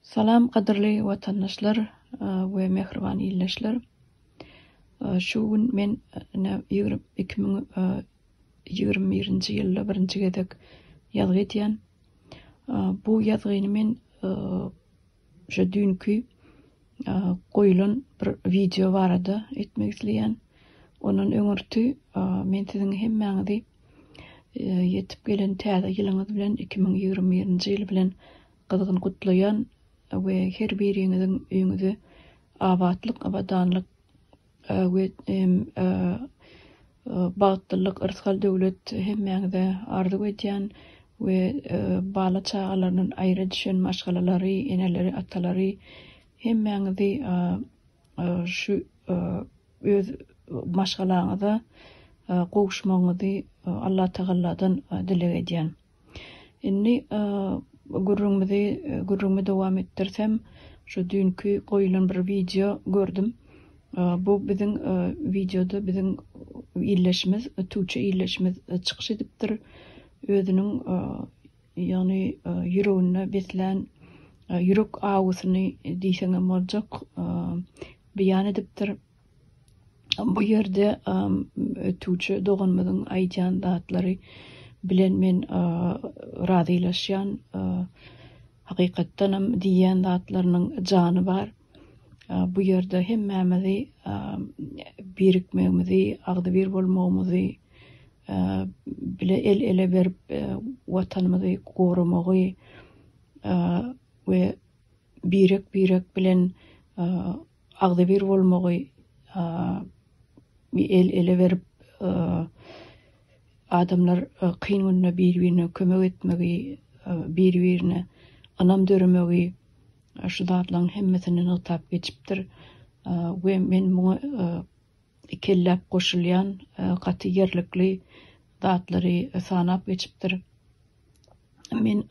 Salam gadyrly watandaşlar we mähriban ildeşler. Şu gün men ine iki müň ýigrimi birinji ýylda birinji gezek ýazgy edýän. Bu ýazgyny men şu düýnki goýulan bir wideo barada etmek isleýän. Ondan öňürti men siziň hemmäňizi Ýetip gelen täze ýylyňyz bilen iki müň ýigrimi birinji ýyl bilen gyzgyn gutlaýan we her biriňiziň öýüňize abatlyk abadanlyk we bagtlylyk yrsgal döwlet hemmäňize arzuw edýän we bala çagalaryndan aýra düşen maşgalalary eneleri atalary hemmäňizi şu Öz maşgalaňyza gowuşmagyňyzy Allatagalladan dileg edýän. Indi gürrüňimizi gürrüňimi dowam etdirsem, şu düýnki goýulan bir wideo gördüm. Bu biziň wideoda biziň illeşimiz, tüwçe illeşimiz çykyş edipdir. Özüniň Ýagny ýüreginde beslän ýürek awusyny diýseňem boljak beýan edipdir. Bu ýerde ötüwçi doganymyzyň aýdýan zatlary bilen men razylaşýan. Hakykatdanam diýýän zatlarynyň jany bar. Bu ýerde hemmämizi birikmegimizi, agzybir bolmagymyzy, bile el-ele berip Watanymyzy goramagy we birek-birek bilen agzybir bolmagy el-ele berip adamlar kyn günde bir-birine kömek etmegi, bir-birine ynam döremegi şu zatlaryň hemmesini nygtap geçipdir we men muňa ikelläp goşulýan gaty ýerlikli zatlary sanap geçipdir. Men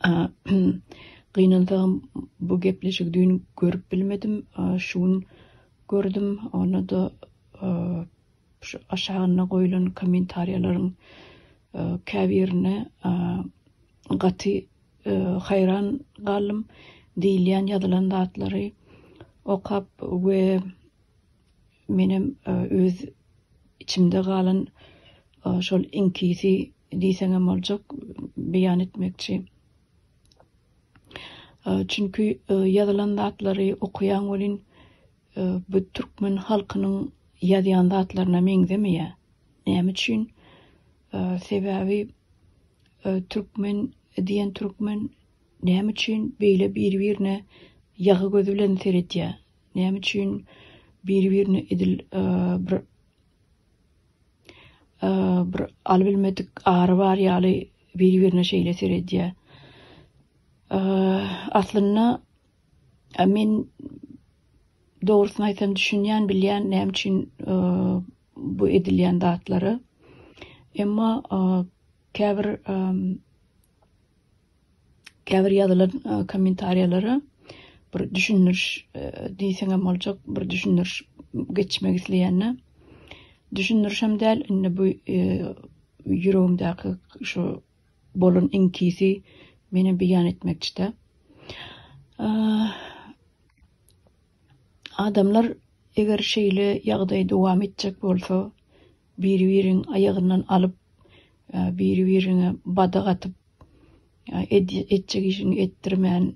gynansagam bu gepleşigi düýn görüp bilmedim, şu gün gördüm, onda-da şu aşagynda goýlan kommentariýalaryň käbirine gaty haýran galdym, diýilýän ýazylan zatlary okap we Menem öz içimde galan şol iňkisi diýseňem boljak beýan etmekçi. Çünki ýazylan zatlary okaýaň welin bu türkmen halkynyň ýazýan zatlaryna meňzemeýär. Näme üçin? Sebäbi türkmen diýen türkmen näme üçin beýle bir-birine ýagy gözi bilen seredýär? Näme üçin biri-birine edil bir bir aly bilmedik ary bar ýaly biri-birine şeýle seredýär. Aslynda men dogrusyny aýtsam düşünýän, bilýän näme üçin bu edilýän zatlary. Emma käbir Käbir ýazylan kommentariýalara bir düşündiriş diýseňem boljak, bir düşündiriş geçmek isleýände düşündirişem däl, indi bu ýüregimdäki şu bolan iňkisi meni beýan etmekçi-de. Adamlar eger şeýle ýagdaý dowam etjek bolsa, biri-biriň aýagyndan alyp, biri-birine badyk atyp, etjek işini etdirmän,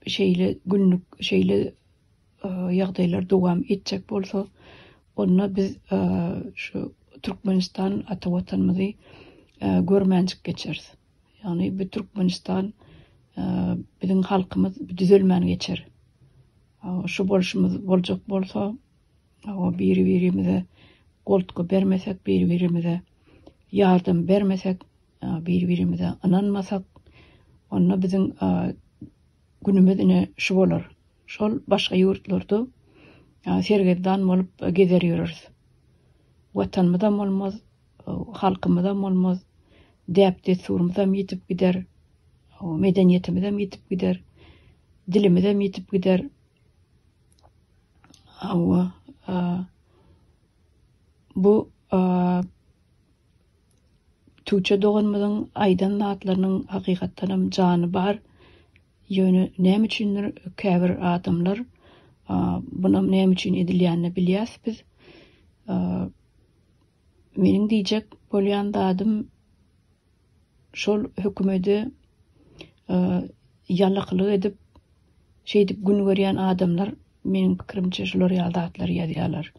şeýle günlük, şeýle ýagdaýlar dowam etjek bolsa, onda biz şu Türkmenistan ata Watanymyzy görmänjik geçeris. Ýagny bu Türkmenistan, biziň halkymyz düzelmän geçer. Şu bolşumyz boljak bolsa, Hawa biri birimize goltgy bermesek biri birimize ýardam bermesek biri birimize ynanmasak onda biziň günümiz ine şu bolar. Şol başga ýurtlarda sergezdan bolup gezer ýöreris. Watanymyzam bolmaz, halkymyzam bolmaz, däp dessurymyzam ýitip gider, medeniýetimizem ýitip gider, dilimizem ýitip gider. Hawa, bu Tuçe doganymyzyň aýdan zatlarynyň hakykatdanam jany bar. Ýöne näme üçindir käbir adamlar bunam näme üçin edilýänini bilýäs biz. Meniň diýjek bolýan zadym şol hökümede ýalaklyk edip, şeýdip gün görýän adamlar, meniň pikirimçe, şular ýaly zatlary ýazýarlar.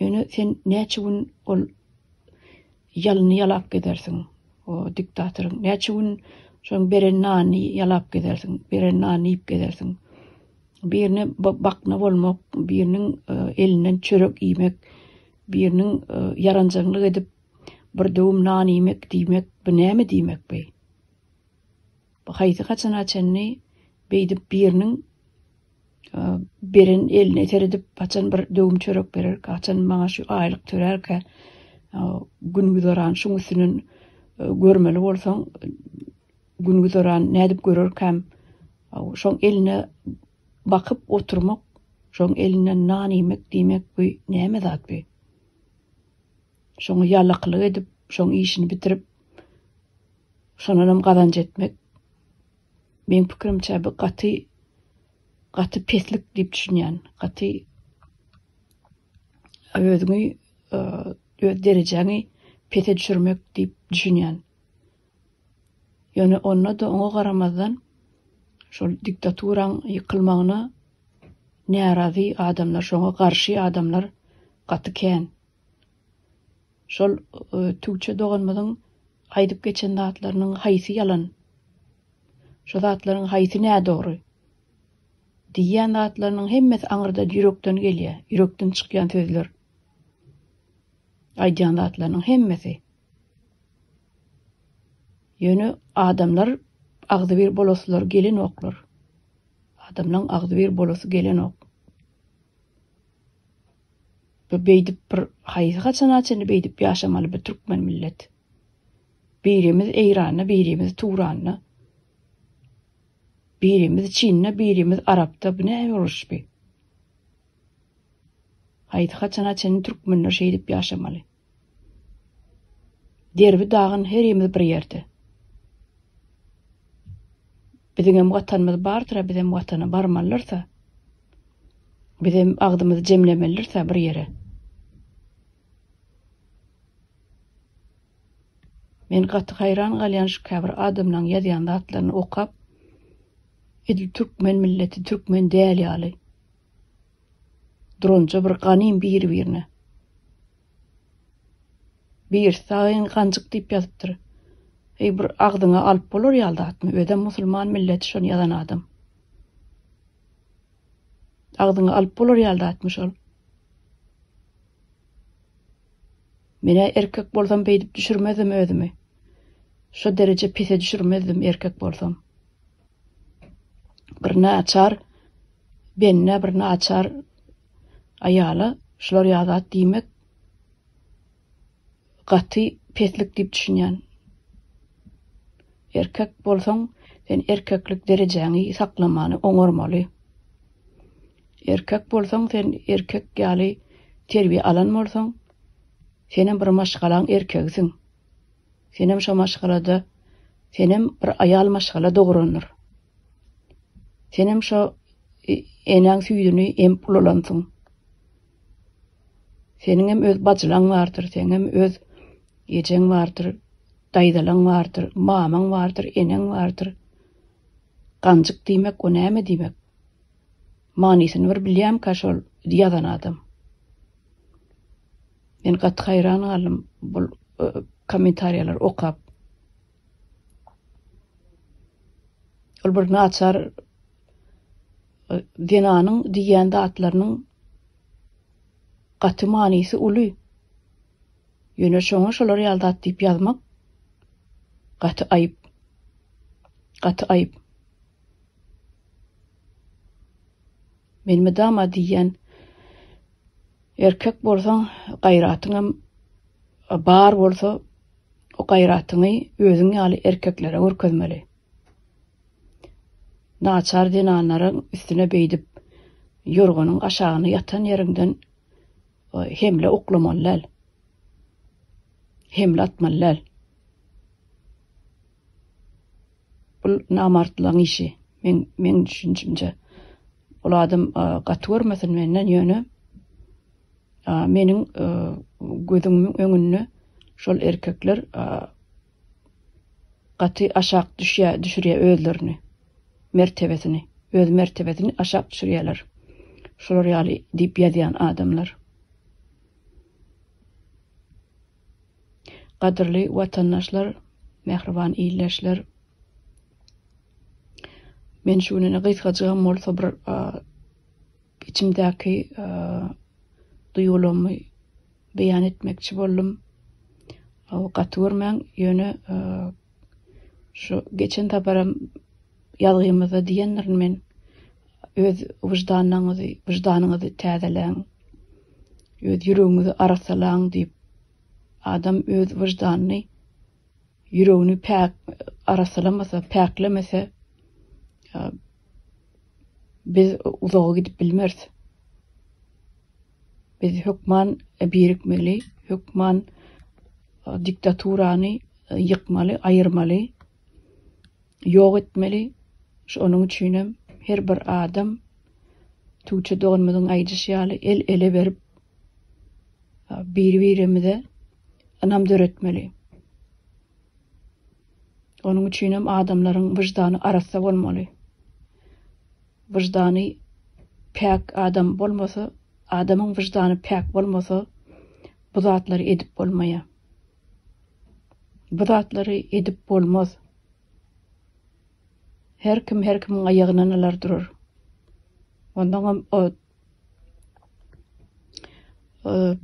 Ýöne sen näçe gün ol ýalyny ýalap gezersiň, o diktatoryň? Näçe gün şoň beren nanyny ýalap gezersiň, beren nanyny iýip gezersiň? Birine bakna bolmak, biriniň e, elinden çörek iýmek, biriniň e, ýaranjaňlyk edip, Bir döwüm nan iýmek diýmek bu näme diýmek beý? Bu haýsy haçana çenli beýdip biriniň beren eline seredip haçan bir döwüm çörek berer, haçan maňa şu aýlyk törärkä gün güzeran şuň üstünden görmeli bolsaň gün güzeran nädip görerkäm şoň eline bakyp oturmak şoň elinden nan iýmek diýmek bu näme zat bu Şoňa ýalakylyk edip, şoň işini bitirip, şondanam gazanç etmek, meň pikirimçe, bu gaty, gaty peslik diýip düşünýän. Gaty özüňi, öz derejäňi pese düşürmek diýip düşünýän. Ýöne onda-da oňa garamazdan, şol diktaturaň ýykylmagyna närazy adamlar, şoňa garşy adamlar gaty kän. Şol Tügçe doganymyzyň aýdyp geçen zatlarynyň haýsy ýalan, şo zatlaryň haýsy nädogry? Diýýän zatlarynyň hemmesi aňyrdan ýürekden gelýär, ýürekden çykýan sözler. Aýdýan zatlarynyň hemmesi. Ýöne adamlar agzybir bolasylary gelenoklar. Adamlaryň agzybir bolasy gelenok. Bu beýdip bir haýsy haçana çenli beýdip ýaşamaly bu türkmen millet. Birimiz Eýranda, birimiz Turanda. Birimiz Çinde, birimiz Arapda. Bu näme uruş bi? Haýsy haçana çenli türkmenler şeýdip ýaşamaly? Derbi dagyn herimiz bir ýerde. Biziňem watanymyz bardyra bizem watana barmalyrsa. Bizem agzymyzy jemlemelirsa bir ýere. Men gaty haýran galýan şu käbir adamlaň ýazýan zatlaryny okap. Edil türkmen milleti türkmen däl ýaly. Duranja bir ganym bir-birine. Birisi saýyn ganjyk diýip ýazypdyr. Heý bir agzyňa alyp bolar ýaly zatmy? Özem musulman milleti şony ýazan adam. Agzyňa alyp bolar ýaly zatmy şol? Menä erkek bolsam beýdip düşürmezdim özümi. Şo dereje pise düşürmezdim erkek bolsam. Bir naçar benne bir naçar aýala şular ýazat diýmek gaty peslik diýip düşünýän. Erkek bolsaň, sen erkeklik derejäňi saklamany oňarmaly. Erkek bolsaň, sen erkek ýaly terbiýe alan bolsaň, Senem bir maşgalaň erkegisiň. Senem şo maşgalada senem bir aýal maşgala dograndyr. Senem şo enäň süýdüni emip ulalansyň. Seniňem öz bajylaň bardyr, seňem öz ejeň bardyr, daýzalaň bardyr, mamaň bardyr, eneň bardyr. Ganjyk diýmek o näme diýmek? Manysyny bir bilýämka şol ýazan adam. Men gaty haýran galdym bul kommentariýalary okap. Ol bir naçar zenanyň diýýän zatlarynyň gaty manysy uly. Ýöne şoňa şolar ýaly zat diýip ýazmak gaty aýyp. Gaty aýyp. Men mydama diýýän, erkek bolsaň, gaýratyňam bar bolsa, o gaýratyňy özüň ýaly erkeklere görkezmeli. Naçar zenanlaryň üstüne beýdip, ýorganyň aşagyna ýatan ýeriňden hemle oklamaly däl. Hemle atmaly däl. Bul namartlaň işi men meň düşünjimce ol adam gaty görmesin menden ýöne meniň gözümiň öňünde şol erkekler gaty aşak düşýä düşürýä özlerini mertebesini öz mertebesini aşak düşürýäler şular ýaly diýip ýazýan adamlar. Gadyrly watandaşlar, mähriban ildeşler! Men şu gününe gysgajygam bolsa bir içimdäki duýgularymy beýan etmekçi boldum. Gaty görmäň, ýöne Şu geçen saparam ýazgymyzda diýendirin men, öz wyždanyňyzy, wyždanyňyzy täzeleň, öz ýüregiňizi arassalaň diýip, adam öz wyždanyny, ýüregini päk arassalamasa, päklemese, Biz uzaga gidip bilmeris. Biz hökman birikmeli, hökman e, diktaturany e, ýykmaly, aýyrmaly, ýok etmeli. Şonuň üçin hem her bir adam Tuğçe doganymyzyň aýdyşy ýaly el ele berip bir-birimize ynam döretmeli. Onuň üçinem adamlaryň wyždany arassa bolmaly. Wyždany päk adam bolmasa, adamyň wyždany päk bolmasa, bu zatlary edip bolmaýar. Bu zatlary edip bolmaz. Her kim her kimiň aýagyndan alar durar. Ondan hem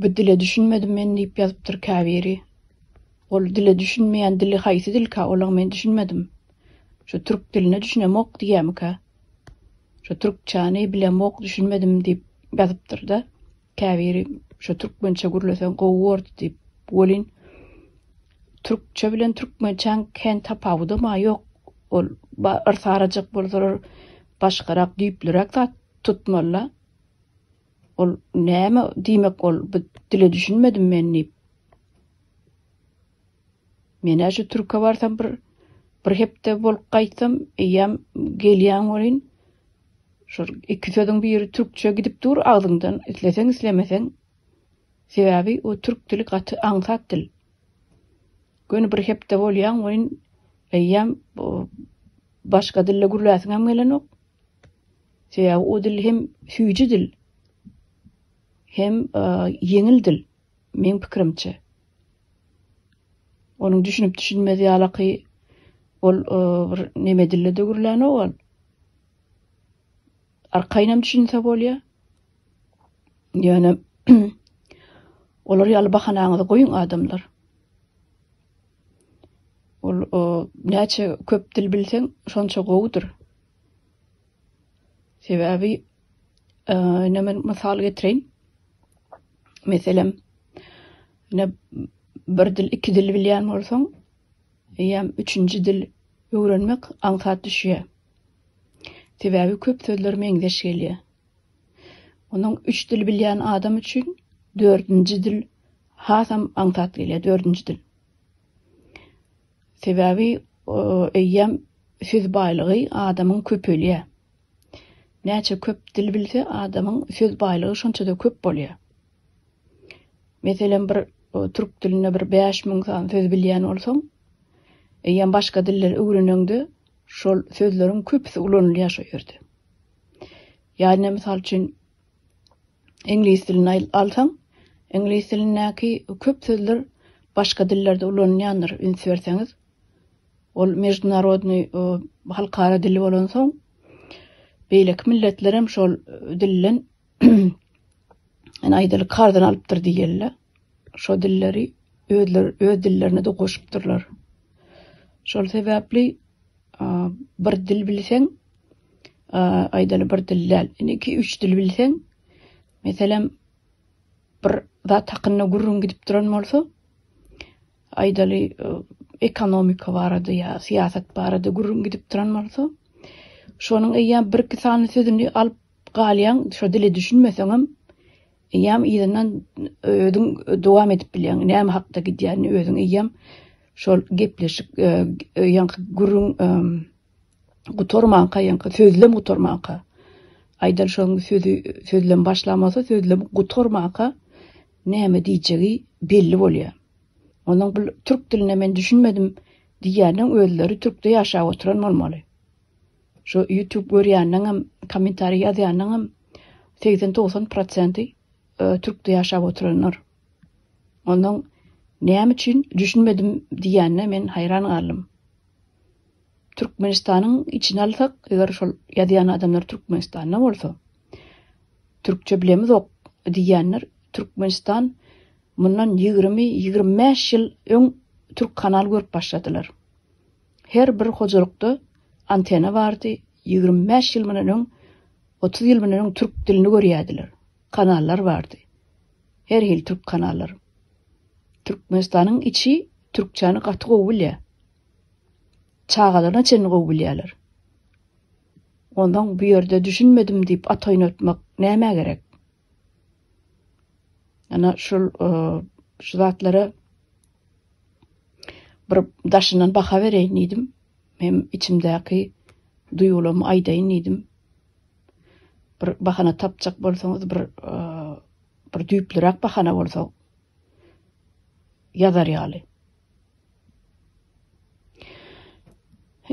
Bu dile düşünmedim men diýip ýazypdyr käbiri. Ol dile düşünmeýän dili haýsy dilka? Olam men düşünmedim. Şu türk diline düşünemok diýýämika? Şu türkçäni bilemok, düşünmedim diýip ýazypdyr-da. Käbiri şu türkmençe gürleseň gowy bordy diýip. Welin türkçe bilen türkmençäň kän tapawudam-a ýok. Ol yrsarajak bolsalar başgarak düýplüräk zat Tutmalla ol näme diýmek ol bu dile düşünmedim men diýip. Men şu türke barsam bir bir hepde bolup gaýtsam eýýäm gelýän welin şu iki sözüň biri türkçe gidip dur agzyňdan isleseň islemeseň sebäbi o türk dili gaty aňsat dil. Göni bir hepde bolýan welin eýýäm başga dilde gürläsiňem gelenok. Sebäbi o dil hem süýji dil, hem ýeňil dil, meň pikirimçe. Onuň düşünip-düşünmez ýalaky ol bir neme dilde-de gürlänok ol. Arkaýynam düşünse bolýar. Ýöne olar ýaly bahanaňyzy goýuň adamlar. Ol näçe köp dil bilseň, şonça gowudyr. Sebäbi, ine men mysal getireýin. Meselem, ine bir dil, iki dil bilýän bolsaň, eýýäm üçünji dil öwrenmek aňsat düşýär. Sebäbi köp sözler meňzeş gelýär. Onuň üç dil bilýän adam üçin dördünji dil Hasam aňsat gelýär dördünji dil. Sebäbi eýýäm söz baýlygy adamyň köpelýär. Näçe köp dil bilse, adamyň söz baýlygy şonça-da köp bolýar. Meselem, bir türk dilinde bir bäş müň sany söz bilýän bolsaň, eýýäm başga dilleri öwreneňde, şol sözleriň köpüsi ulanylýar şo ýerde. Ýa-da, mysal üçin, Iňlis dilini alsaň, iňlis dilindäki köp sözler başga dillerde ulanylýandyr, üns berseňiz. Ol mejdunarodnyý, halkara dili bolansoň, beýleki milletler hem şol dilden ýani aýdaly karzyna alypdyr diýeli-le. Şo dilleri özleri öz dillerine-de goşupdyrlar. Şol sebäpli bir dil bilseň, aýdaly bir dil däl. Indi iki üç dil bilseň, meselem bir zat hakynda gürrüň gidip duran bolsa, aýdaly e, ekonomika barada ýa syýasat barada gürrüň gidip duran bolsa, şonuň eýýäm bir iki sany sözüni alyp galýaň, şo dile düşünmeseň hem eýýäm ýerinden özüň dowam edip bilýäň. Näme hakda gidýänini özüň eýýäm şol gepleşik e, e, ýa gürrüň gutarmanka ýaňky sözlem gutarmanka aýdan şoň sözi sözlem başlamasa sözlem gutarmanka näme diýjegi belli bolýar. Onuň bu türk diline men düşünmedim diýýäniň özleri türkde ýaşap oturan bolmaly. Şu YouTube görýäniň hem kommentariý ýazýanyň hem 80-90% e, türkde ýaşap oturanlar. Onuň näme üçin düşünmedim diýýänine men haýran galdym. Türkmenistanyň içine alsak, eger şol ýazýan adamlar Türkmenistanda bolsa, türkçe bilemizok diýýänler, Türkmenistan mundan ýigrimi, ýigrimi bäş ýyl öň türk kanal görüp başladylar. Her bir hojalykda antena bardy, ýigrimi bäş ýyl mundan öň, otuz ýyl mundan öň türk dilini görýärdiler. kanallar bardy. Her hili türk kanallary. Türkmenistanyň içi türkçäni gaty gowy bilýär. Çagalaryna çenli gowy bilýärler. Ondan bu ýerde düşünmedim diýip at oýnatmak nämä gerek? Ana şul e, şu zatlara bir daşyndan baha bereýin diýdim. Hem içimdäki duýgulamy aýdaýyn diýdim. bir bahana tapjak bolsaňyz bir bir düýplüräk bahana bolsa ýazar ýaly.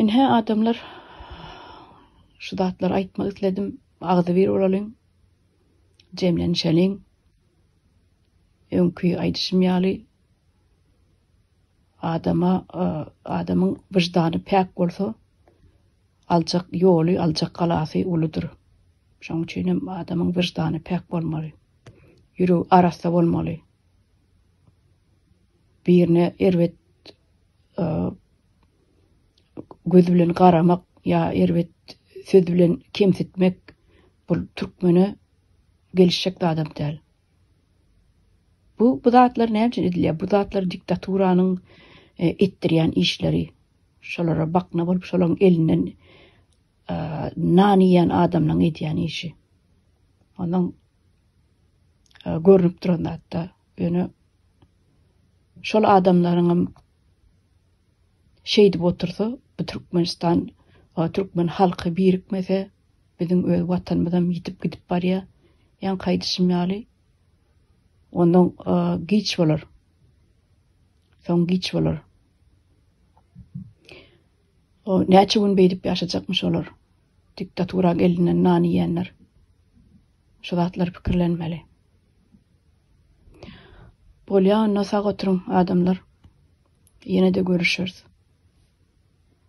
Inhe adamlar şu zatlar aýtmak isledim. Agzy bir bolalyň. Jemlenişeliň. Öňki aýdyşym ýaly Adama, adamyň wyždany päk bolsa, aljak ýoly, aljak galasy uludyr. Şonuň üçin hem adamyň wyždany päk bolmaly. Ýüregi arassa bolmaly. Birine erbet göz bilen garamak ýa erbet söz bilen kemsitmek bu türkmene gelişjek adam däl. Bu bu zatlar näme üçin edilýär? Bu zatlar diktaturanyň e, etdirýän işleri. Şolara bakna bolup şolaryň elinden e, nan iýen adamlaryň edýän işi. Onuň e, görnüp duran zatda ýöne şol adamlaryň hem Şeýdip otursa, bu Türkmenistan we türkmen halky birikmese, biziň öz Watanymyzam ýitip gidip barýar. Ýaňky aýdyşym ýaly, ondan giç bolar. Soň giç bolar. O näçe gün beýdip ýaşajakmyş olar? Diktatura gelinen nan iýenler şu zatlary pikirlenmeli. Bolýa onda sag oturyň adamlar. Ýene-de görüşeris.